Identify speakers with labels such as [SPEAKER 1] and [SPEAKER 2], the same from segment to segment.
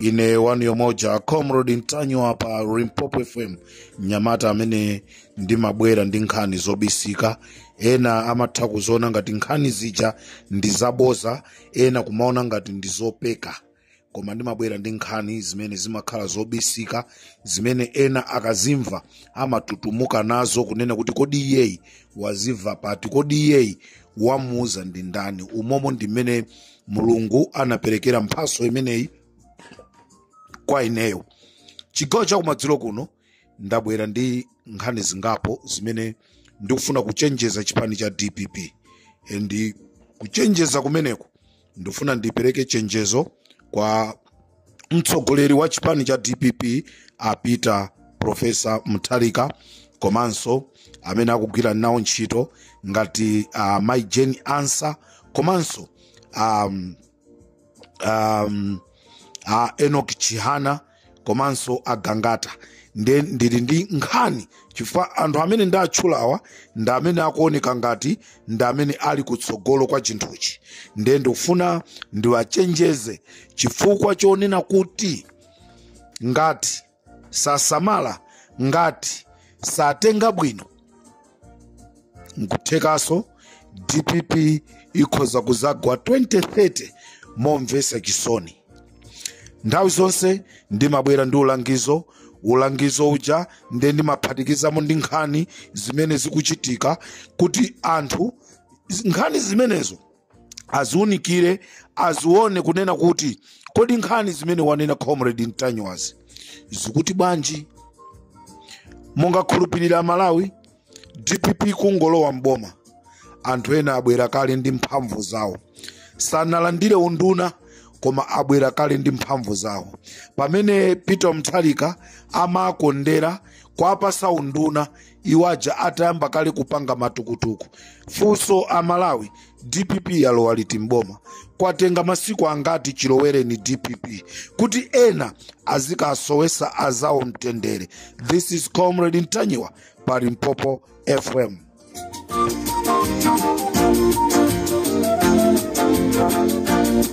[SPEAKER 1] ine wanu yomoja comrade ntanyiwa pa limpopo fm mnyamata amene ndimabwera ndi nkhani zobisika ena amatha kuziona ngati nkhani zija ndi zaboza ena kumaona ngati ndi zopeka koma ndimabwera ndi nkhani zimene zimakhala zobisika zimene ena akazimva amatutumuka nazo kunena kuti kodi iyeyi wazimva pati kodi iyeyi wamuuza ndi ndani umomo ndi mmene mulungu anaperekera mphaso imeneyi kwa ineyo chigawo chakumadzulo kuno ndabwera ndi nkhani zingapo zimene ndikufuna kuchenjeza chipani cha dpp and kuchenjeza kumeneko ndifuna ndipereke chenjezo kwa mtsogoleri wa chipani cha dpp a peter profesa mutharika komanso amene akugwira nawo ntchito ngati uh, mai jane ansah komanso um, um, uh, enoch chihana komanso a gangata nde ndili ndi nkhani chifukwa anthu amene ndatchulawa ndi amene akuoneka ngati ndi amene ali kutsogolo kwa chinthuchi nde ndikufuna ndiwachenjeze chifukwa chonena kuti ngati sasamala ngati satenga bwino nkuthekaso dpp ikhoza kuzagwa 2030 momvesa chisoni nthawi zonse ndimabwera ndi ulangizo ulangizo uja nde ndimaphatikizamo ndi nkhani zimene zikuchitika kuti anthu z- nkhani zimenezo aziunikire azione kunena kuti kodi nkhani zimene wanena comrade ntanyiwazi zikuti bwanji mungakhulupirire amalawi dpp kungolowa mboma anthu ena abwera kale ndi mphamvu zawo sanalandire unduna koma abwera kale ndi mphamvu zawo pamene peter mtharika amakondera kuwapasa unduna iwo aja atayamba kale kupanga matukutuku funso amalawi dpp yalowa liti mboma kwatenga masiku angati chilowereni dpp kuti ena azikasowesa azawo mtendere this is comrade ntanyiwa pa limpopo fm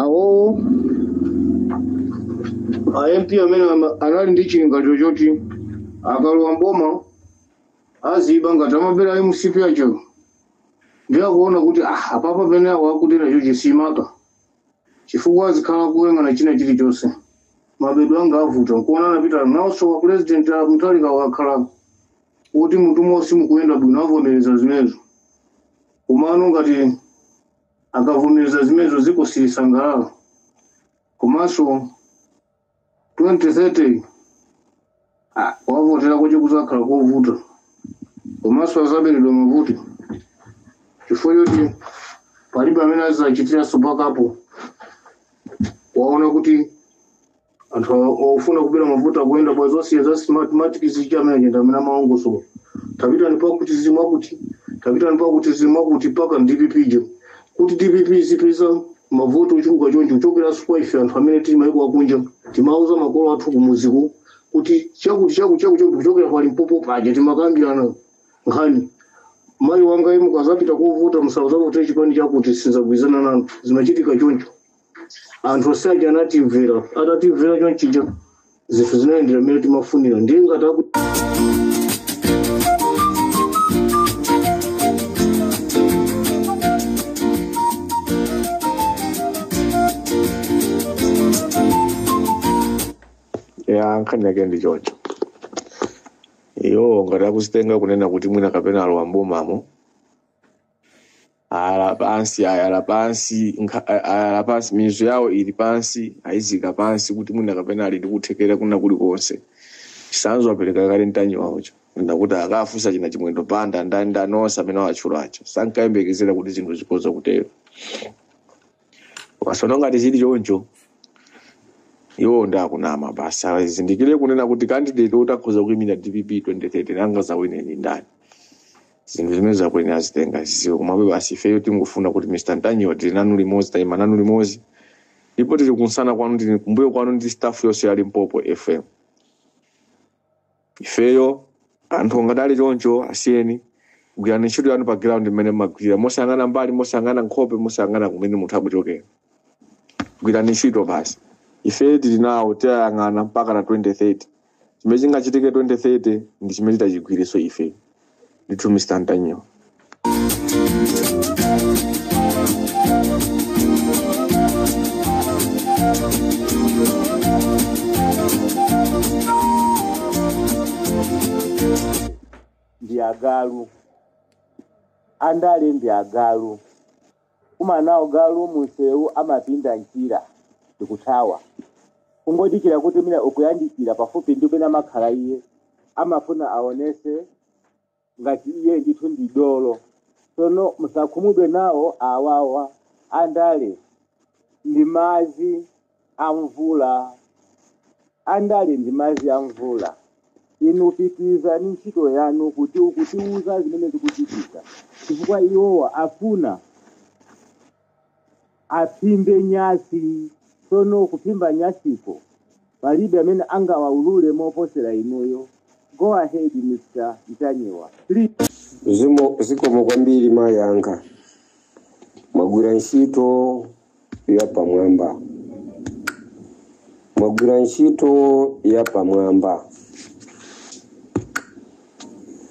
[SPEAKER 2] awowo a mp amene ama- anali ndi chilingaliro choti akalowa mboma aziba ngati amabera a mcp acho ndiye akuona kuti ah, apapa pene awo akuti nacho chisimaka chifukwa azikhala kuyang'ana china chilichonse mabedwe anga avuta nkuona anapita nawonso kwa president a mutharika akakhala kuti mmutu monse mukuyenda bwino avomereza zimenezo komano ngati akavomereza zimenezo dziko silisangalala komanso 2030 ah, kuwavotera kuti kuzakhala kovuta komanso azaberedwa mavoti chifukwa choti palibe amene azachitirenso back up waona kuti anthu ofuna kubera mavoti akuyenda pa zonse za smartmatic zija amene achenda amene amalongosola tapitani pakuti zimwa kuti tapitani pakuti zimwa kuti mpaka dpp je kuti dpp izipeza mavoti ochuluka choncho kuchokeranso kwa ife anthu amene tili maiko akunja timauza makolo athu kumuziko kuti chakuti chakuti chakuti chakuti kuchokera kwa limpopo paja timakambirana nkhani mayi wanga inu mukazapita kovota musauza kuti chipani chakuti sinzagwirizana nanu zimachitika choncho anthu onse aja anatimvera atatimvera chonchija zinthu zinayendera mmene timafunira ndiye ngati
[SPEAKER 3] aku ya nkhani yake ndi choncho iyo ngati akuzitenga kunena kuti mwina kapena alowa mbomamo ayala pansi ayala pansi nkha- a- ayala pansi mizu yawo ili pansi ayizika pansi kuti mwina kapena ali ndi kuthekera kwina kulikonse chisanzo apereka kale ntanyiwawocho ndakuti akafunse achina chimwendo banda ndani ndani onse amene awatchula aja sankayembekezera kuti zinthu zikhoza kutero masono ngati zili choncho iwo ndi akunama basi azindikire kunena kuti candidate oti akhoza kuimira dpp 2030 angazawine ndi ndani zinthu zimene akuyenera azitenga ziziwe komabe basi ifeyo tingofuna kuti mr ntanyiwa tili nanu limodzi tayima nanu limodzi ndipo tili kunsana kwanu tili kumbuyo kwanu ndi staff yonse ya limpopo fm ifeyo anthu ngati ali choncho asiyeni gwirani ntchito yanu pa ground imene mmagwirira mosayang'ana mbali mosayang'ana nkhope mosayang'ana kumene munthu akuchokera gwirani ntchito basi ife tili nawo tiwayang'ana mpakana 2030 chimene chingachitike 2030 ndi chimene titachigwireso ife ndithu mr
[SPEAKER 4] ntanyiwa ndi agalu andale ndi agalu kukumana nawo galu munsewu amapinda mchira ndikuthawa kungodikira kuti mwina ukuyandikira pafupi ndi kumene amakhala iye amafuna aonetse ngati iye ndithu ndi dolo tsono musakhumudwe nawo awawa andale ndi madzi a mvula andale ndi madzi a mvula inu pitirizani ntchito yanu kuti ukutiuza zimene zikuchitika chifukwa iwowa afuna aphimbe nyasi tsono kuphimba nyasiko palibe amene angawaulule moposera inuyo go ahead mr ntanyiwa please zimo
[SPEAKER 5] zikomo kwambiri mayi anga mwagwira ntchito yapamwamba mwagwira ntchito yapamwamba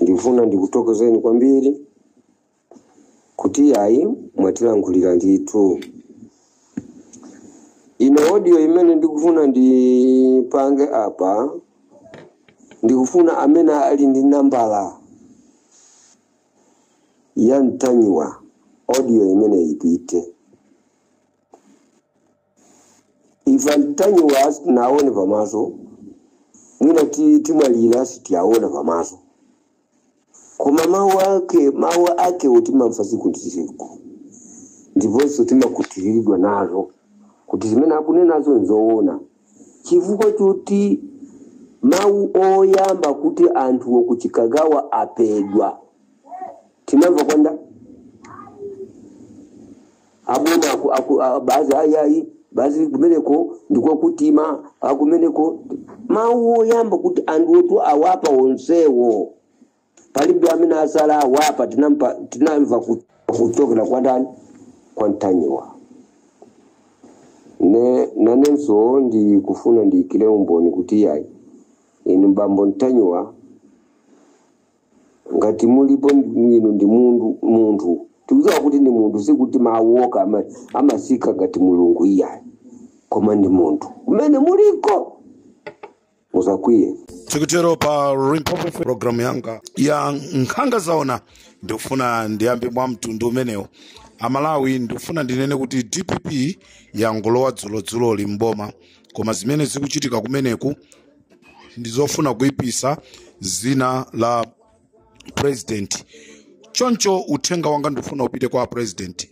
[SPEAKER 5] ndifuna ndikutokozeni kwambiri kuti yayi mwatilankhulira ndithu ine audio imene ndikufuna ndipange apa ndikufuna amene ali ndi nambala ya ntanyiwa audio imene ipite ife ntanyiwa naone pamaso mwina ti- timwalira sitiaona pamaso koma mawu ake mawu ake timamva tsiku ndi tsiku ndiponso timakhutitsidwa nazo kuti zimene akunenazo nzoona Chifukwa choti mawu oyamba kuti anthu a ku Chikangawa aphedwa tinamva kwa nda abodza aku- aku- a- bazi ayayi bazi kumeneko ndiko kuthima akumeneko mawu oyamba kuti anthu otu awapha onsewo palibe amene atsala awapha tinamva, tinamva ku- kuchokera kwa ndani kwa ntanyiwa ne nanenso ndikufuna ndiyikire umboni kuti yayi inu bambo ntanyiwa ngati mulipo inu ndi mundu munthu tikudziwa kuti ndi munthu sikuti mawu okha ama- amatsika ngati mulungu iyayi koma ndi munthu kumene muliko musakwiye
[SPEAKER 1] tikutero pa limpopo programu yanga ya nkhanga zaona ndikufuna ndiyambe mwa mtundu umenewo amalawi ndikufuna ndinene kuti dpp yangolowa dzulodzuloli mboma koma zimene zikuchitika kumeneku ndizofuna kuipitsa dzina la president choncho uthenga wanga ndikufuna upite kwa president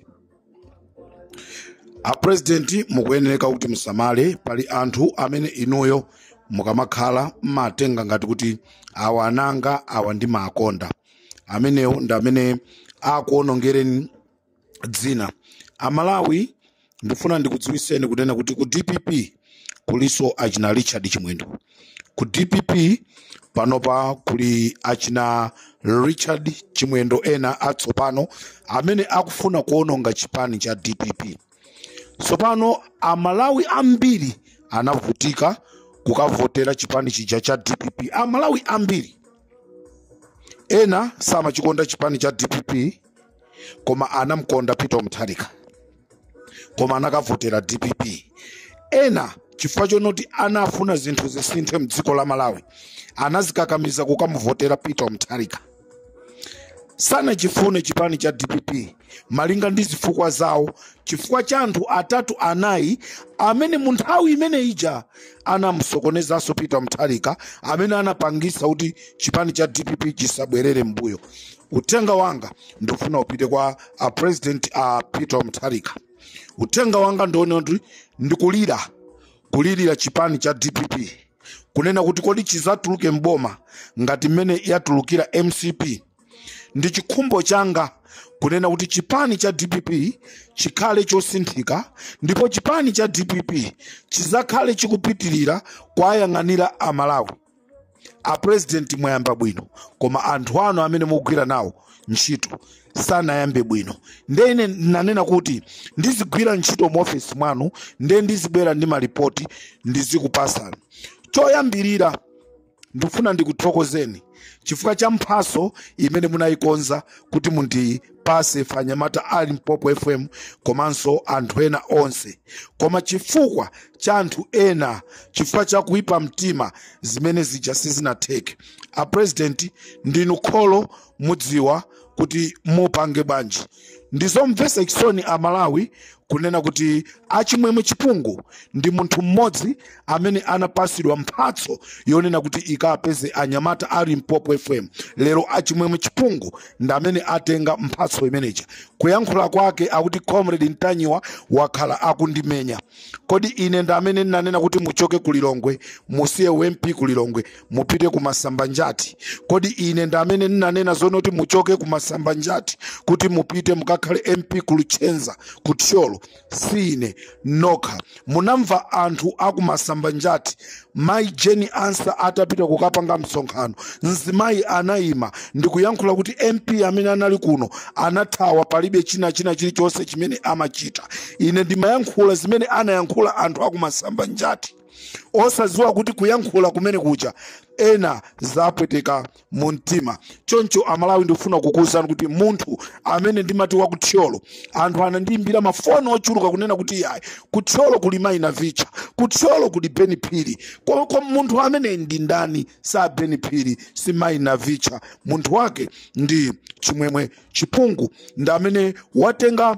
[SPEAKER 1] a president mukuyenereka kuti musamale pali anthu amene inuyo mukamakhala mmatenga ngati kuti awa ana anga awa ndimaakonda amenewo ndi amene akuonongereni dzina amalawi ndifuna ndikudziwitseni kunena kuti ku dpp kulinso achina richard chimwendo ku dpp panopa kuli achina richard chimwendo ena atsopano amene akufuna kuononga chipani cha dpp tsopano amalawi ambiri anavutika kukavotera chipani chija cha dpp amalawi ambiri ena samachikonda chipani cha dpp koma anamkonda peter mutharika koma anakavotera dpp ena chifukwa chonoti anafuna zinthu zisinthe mdziko la malawi anazikakamiza kukamuvotera peter mutharika sanachifune chipani cha dpp malinga ndi zifukwa zawo chifukwa cha anthu atatu anayi amene mu nthawi imene ija anamsokonezanso peter mutharika amene anapangisa kuti chipani cha dpp chisabwerere mboma uthenga wanga ndifuna upite kwa a president a peter mutharika uthenga wanga ndione kuti ndikulira kulirira chipani cha dpp kunena kuti kodi chizatuluke mboma ngati mmene yatulukira mcp ndi chikhumbo changa kunena kuti chipani cha dpp chikhale chosinthika ndipo chipani cha dpp chizakhale chikupitirira kuwayang'anira amalawi a president mwayamba bwino koma anthu anu amene mukugwira nawo ntchito sanayambe bwino nde ine nanena kuti ndizigwira ntchito mu ofesi mwanu nde ndizibwera ndi malipoti ndizikupasani choyambirira ndifuna ndikuthokozeni chifukwa cha mphatso imene munayikonza kuti mundi pase ife anyamata a limpopo fm komanso anthu ena onse koma chifukwa cha anthu ena chifukwa cha kuipa mtima zimene zija sizinatheke a president ndinu kholo mudziwa kuti mupange bwanji ndizomvetsa chisoni amalawi kunena kuti achimwemwe chipungu ndi munthu mmodzi amene anapasidwa mphatso yonena kuti ikapeze anyamata a limpopo fm lero achimwemwe chipungu ndi amene atenga mphatso imeneja kuyankhula kwake akuti comrade ntanyiwa wakhala akundimenya kodi ine ndi amene ndinanena kuti muchoke ku lilongwe musiye u mp ku lilongwe mupite ku masambanjati kodi ine ndi amene ndinanena zoona kuti muchoke ku masambanjati kuti mupite mukakhale mp ku luchenza ku thyolo si ine nokha munamva anthu aku masambanjati mayi jane ansah atapita kukapanga msonkhano mzimayi anayima ndikuyankhula kuti mp amene anali kuno anathawa palibe china china chilichonse chimene amachita ine ndimayankhula zimene anayankhula anthu aku masambanjati osadziwa kuti kuyankhula kumene kuja ena zapweteka mu mtima choncho amalawi ndikufuna kukuwuzani kuti munthu amene ndimati wa kuthyolo anthu anandiyimbira mafoni ochuluka kunena kuti yayi kuthyolo kuli mai navicha kuthyolo kuli beni phiri koma munthu amene ndi ndani sa beni phiri si mai navicha munthu wake ndi chimwemwe chipungu ndi amene watenga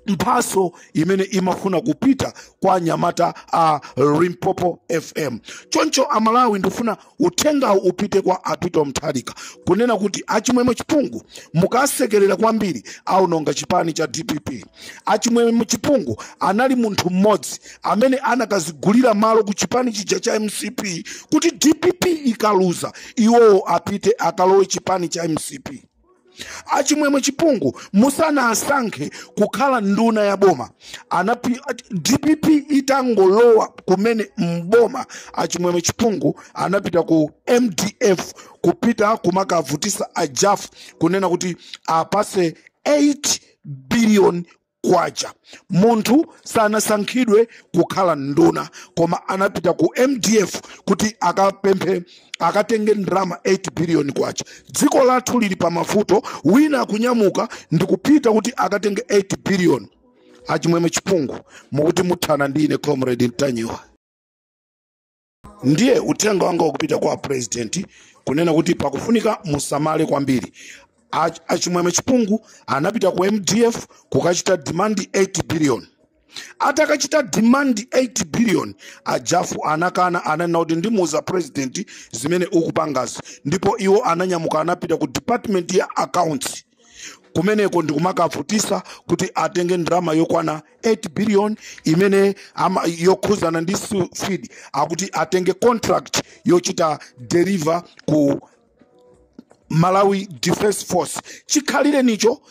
[SPEAKER 1] mphaso imene imafuna kupita kwa anyamata a limpopo fm choncho amalawi ndifuna uthengawu upite kwa a peter mutharika kunena kuti achimwemwe chipungu mukasekerera kwambiri aononga chipani cha dpp achimwemwe chipungu anali munthu mmodzi amene anakazigulira malo ku chipani chija cha mcp kuti dpp ikaluza iwowo apite akalowe chipani cha mcp achimwemwe chipungu musanawasankhe kukhala nduna ya boma dpp itangolowa kumene mboma achimwemwe chipungu anapita ku mdf kupita kumakawavutisa ajafu kunena kuti awapase 8 billion kwacha munthu sanasankhidwe kukhala nduna koma anapita ku mdf kuti akapemphe akatenge ndalama 8 billion kwacha dziko lathu lili pa mavuto wina akunyamuka ndikupita kuti akatenge 8 billion achimwemwe chipungu mukuti muthana ndi ine comrade ntanyiwa ndiye uthenga wanga wakupita kwa president kunena kuti pakufunika musamale kwambiri A- achimwemwe chipungu anapita ku mdf kukachita demand 8 billion atakachita demand 8 billion ajafu anakana ananena kuti ndimuuza president zimene ukupangazi ndipo iwo ananyamuka anapita ku department ya accounts kumeneko ndikumakavutisa kuti atenge ndalama yokwana 8 billion imene ama, yokhuzana ndi su- feed akuti atenge contract yochita deliver ku malawi defense force chikhalirenicho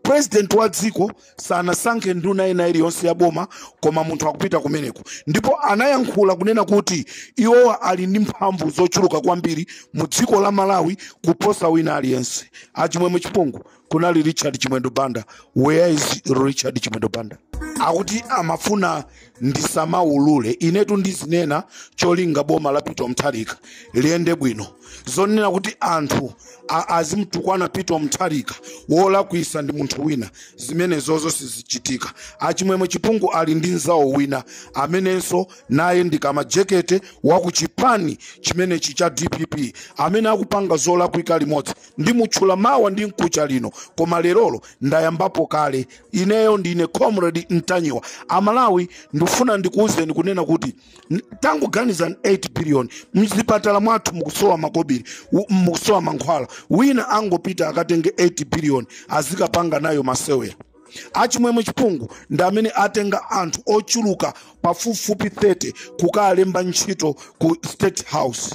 [SPEAKER 1] president wa dziko sanasankhe nduna ina iliyonse ya boma koma munthu akupita kumeneko ndipo anayankhula kunena kuti iwowa ali ndi mphamvu zochuluka kwambiri mu dziko la malawi kuposa wina aliyense achimwemwe chipungu kunali richard chimwendo banda where is richard chimwendo banda akuti amafuna ndisamaulule inetu ndizinena cholinga boma la peter mutharika liyende bwino zonena kuti anthu a- azimtukwana peter mutharika wolakwitsa ndi munthu wina zimenezozo sizichitika achimwemwe chipungu ali ndi mzawo wina amenenso naye ndi a majekete wakuchipani chimenechi cha dpp amene akupanga zolakwika limodzi ndimutchula mawa ndi mkucha lino koma lerolo ndayambapo kale ineyo ndine comrade ntanyiwa amalawi ndifuna ndikuwuzeni kunena kuti n- tangoganizani 8 billion mzipatala mwathu mukusowa makobiri u- mukusowa mankhwala wina angopita akatenge 8 billion azikapanga nayo masewera achimwemwe chipungu ndi amene atenga anthu ochuluka pafupifupi 30 kukalemba ntchito ku state house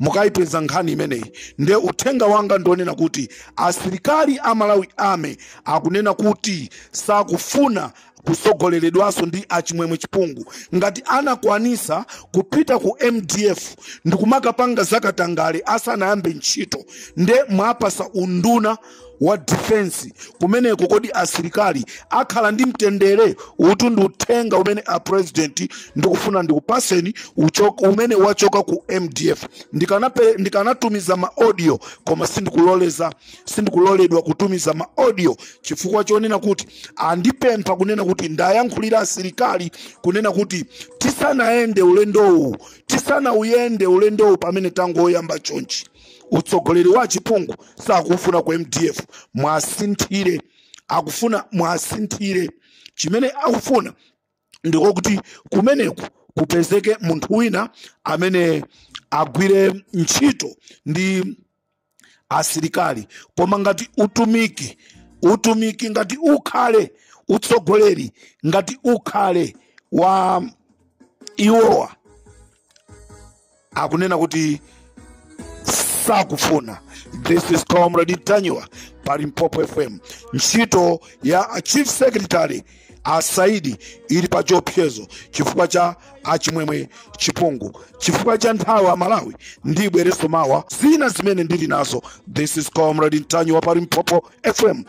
[SPEAKER 1] mukayipeza nkhani imeneyi nde uthenga wanga ndi wonena kuti asilikali a malawi ame akunena kuti sakufuna kutsogoleredwanso ndi achimwemwe chipungu ngati anakwanisa kupita ku mdf ndikumakapanga zakatangale asanayambe ntchito nde mwapasa unduna wa defense kumeneko kodi asilikali akhala ndi mtendere utu ndi uthenga umene a president ndikufuna ndikupaseni uchoka- umene wachoka ku mdf Ndikanape- ndikanatumiza ma audio koma sindikuloleza sindikuloledwa kutumiza ma audio chifukwa chonena kuti andipempha kunena kuti ndiwayankhulire asilikali kunena kuti tisanayende ulendowu tisanauyende ulendowu pamene tangoyamba chonchi utsogoleri wa achipungu sakuufuna ku mdf mwasinthire akufuna mwasinthire chimene akufuna ndiko kuti kumeneko kupezeke munthu wina amene agwire ntchito ndi asilikali koma ngati utumiki utumiki ngati ukhale utsogoleri ngati ukhale wa iwowa akunena kuti sakufuna this is comrade ntanyiwa pa limpopo fm ntchito ya a chief secretary a saidi ili pa chiopsezo chifukwa cha achimwemwe chipungu chifukwa cha nthawi amalawi ndibwereso mawa zina zimene ndili nazo this is comrade ntanyiwa pa limpopo fm